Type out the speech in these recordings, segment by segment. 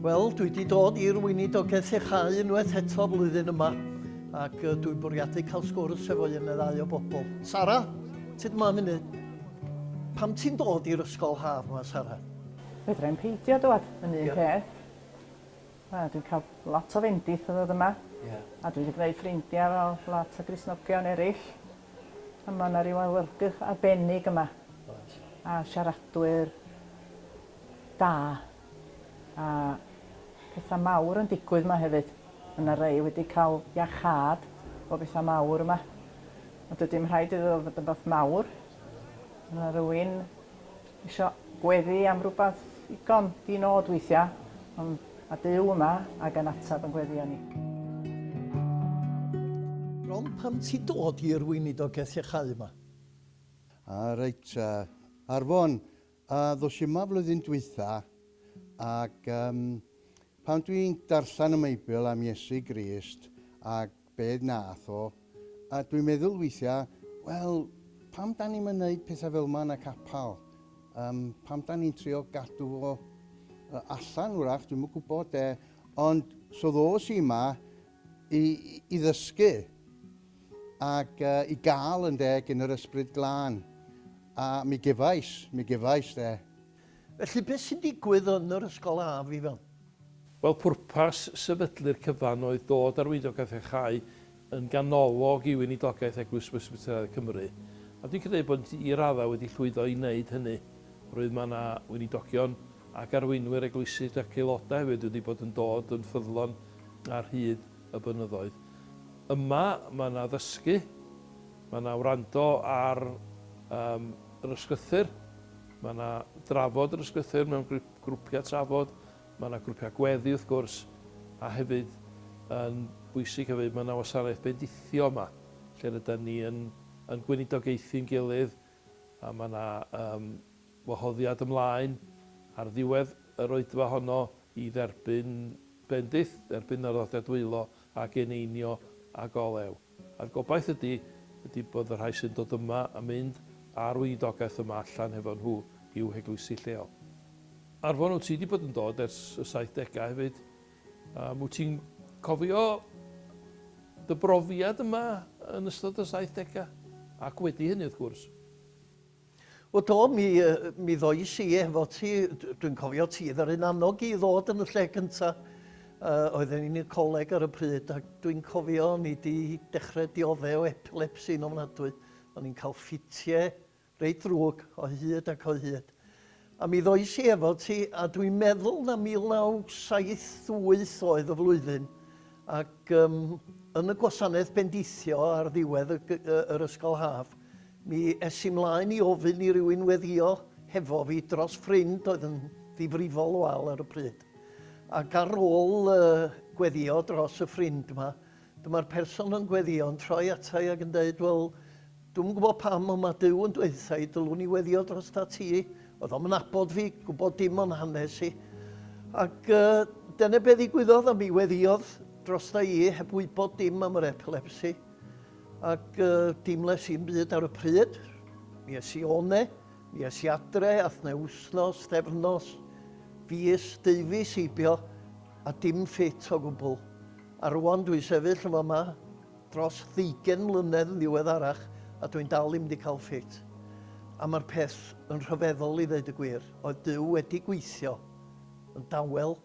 Wel, dwi wedi dod i'r weinidogaeth iechau unwaith eto flwyddyn yma, ac uh, dwi'n bwriadu cael sgwrs efo un neu ddau o bobl. Sara, ti'n yma munud? Pam ti'n dod i'r ysgol haf yma, Sara? Fedra i'n peidio dod yn un yeah. peth. Wel dwi'n cael lot o fendith o ddod yma. Ie. A dwi 'di gwneud ffrindia fel lot o Gristnogion erill. A ma' 'na ryw awyrgych arbennig yma. Oes. A siaradwyr da. A petha mawr yn digwydd 'ma hefyd. Ma' 'na rei wedi ca'l iachâd o betha mawr yma. Ond dydi'm rhaid iddo fod yn beth mawr. Ma' 'na rywun Isio gweddu am rywbeth ddigon di-nod weithiau, ond mae Duw yma ac yn ateb yn gweddiau ni. Bron pam ti dod i'r weinidogaeth iachau yma? A reit, ar fon, ddos i yma flwyddyn dwytha, ac pan dwi'n darllen y meibl am Iesu Grist ac be wnaeth o, a dwi'n meddwl weithiau, wel, pam dan ni'm yn neud pethau fel ma yn y capal? Yym, pam dan ni'n trio gadw fo yy allan wrach, dwi'm yn gwybod de, ond so ddos i yma i i ddysgu ac yy i gael yn de gyn yr Ysbryd Glân, a mi gefais, mi gefais de. Felly, beth sy'n digwydd yn yr ysgol haf, Ifan? Wel, pwrpas sefydlu'r cyfan oedd dod â'r Weinidogeth a Chau yn ganolog i weinidogaeth Eglwys Bresbyteraidd Cymru, a dwi'n credu bod ni i raddau wedi llwyddo i wneud hynny, oherwydd mae yna weinidogion ac arweinwyr eglwysig ac aelodau hefyd wedi bod yn dod yn ffyddlon ar hyd y blynyddoedd. Yma, mae yna ddysgu, mae yna wrando ar um, yr ysgrythur, Mae yna drafod yr ysgrythur mewn grwpiau trafod, mae yna grwpiau gweddi wrth gwrs, a hefyd yn bwysig hefyd mae yna wasanaeth bendithio yma lle rydan ni yn yn gweinidogaethu'n gilydd a mae yna yym wahoddiad ymlaen ar ddiwedd yr oedfa honno i dderbyn bendith, dderbyn yr arddodiad wylo a geneinio ag olew. A'r gobaith ydy, ydy bod y rhai sy'n dod yma a mynd ar weinidogaeth yma allan hefo nhw i'w heglwysi lleol. Arfon, wyt ti di bod yn dod ers y saithdegau hefyd, um, wyt ti'n cofio dy brofiad yma yn ystod y saithdegau? Ac wedi hynny wrth gwrs. O do, mi, mi ddois i efo ti, dwi'n cofio ti ddaru'n annog i ddod yn y lle gynta. Uh, oedden ni'n y coleg ar y pryd ac dwi'n cofio ni di dechrau diodde o epilepsi'n ofnadwy. O'n i'n cael ffitie reit ddrwg o hyd ac o hyd. A mi ddois i efo ti, a dwi'n meddwl na 1978 oedd y flwyddyn, ac yym yn y gwasanaeth bendithio ar ddiwedd y g- yy yr ysgol haf, mi es i 'mlaen i ofyn i rywun weddio hefo fi dros ffrind oedd yn ddifrifol o Al ar y pryd. Ac ar ôl yy gweddio dros y ffrind 'ma, Dyma'r person yn gweddio yn troi ata i ac yn deud, Wel, dwi'm yn gwybod pam, ond mae Duw yn dweutha i, dylwn i weddio drosta ti. Oedd o'm yn nabod fi, gwybod dim o'n hanes i. Ac uh, dyna be ddigwyddodd, a mi weddiodd drosta i heb wybod dim am yr epilepsi. Ac uh, dim les i'n byd ar y pryd. Mi es i one, mi es i adre, ath ne wsnos, stefnos, fis, deufis, eibio, a dim ffit o gwbl. A rŵan dwi'n sefyll yn fama dros ddeugain mlynedd yn ddiweddarach a dwi'n dal ddim wedi cael ffit. A mae'r peth yn rhyfeddol i ddeud y gwir, oedd Duw wedi gweithio yn dawel,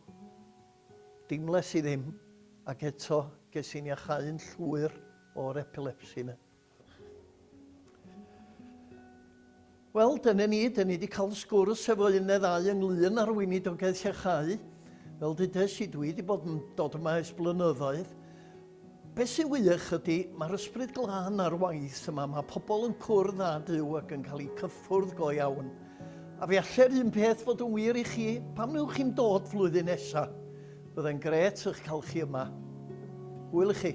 dim les i ddim, ac eto ges i'n iacháu'n llwyr o'r epilepsi 'na. Wel, dyna ni, dyn ni wedi cael sgwrs efo un neu ddau ynglyn â'r weinidogaeth llechau. Fel dudais i, dwi wedi bod yn dod yma ers blynyddoedd. Beth sy'n wych ydy, mae'r ysbryd glân ar waith yma, mae pobl yn cwrdd â Duw ac yn cael eu cyffwrdd go iawn. A fe allai'r un peth fod yn wir i chi, pam newch chi'n dod flwyddyn nesaf? Byddai'n gret eich cael chi yma. Hwyl i chi.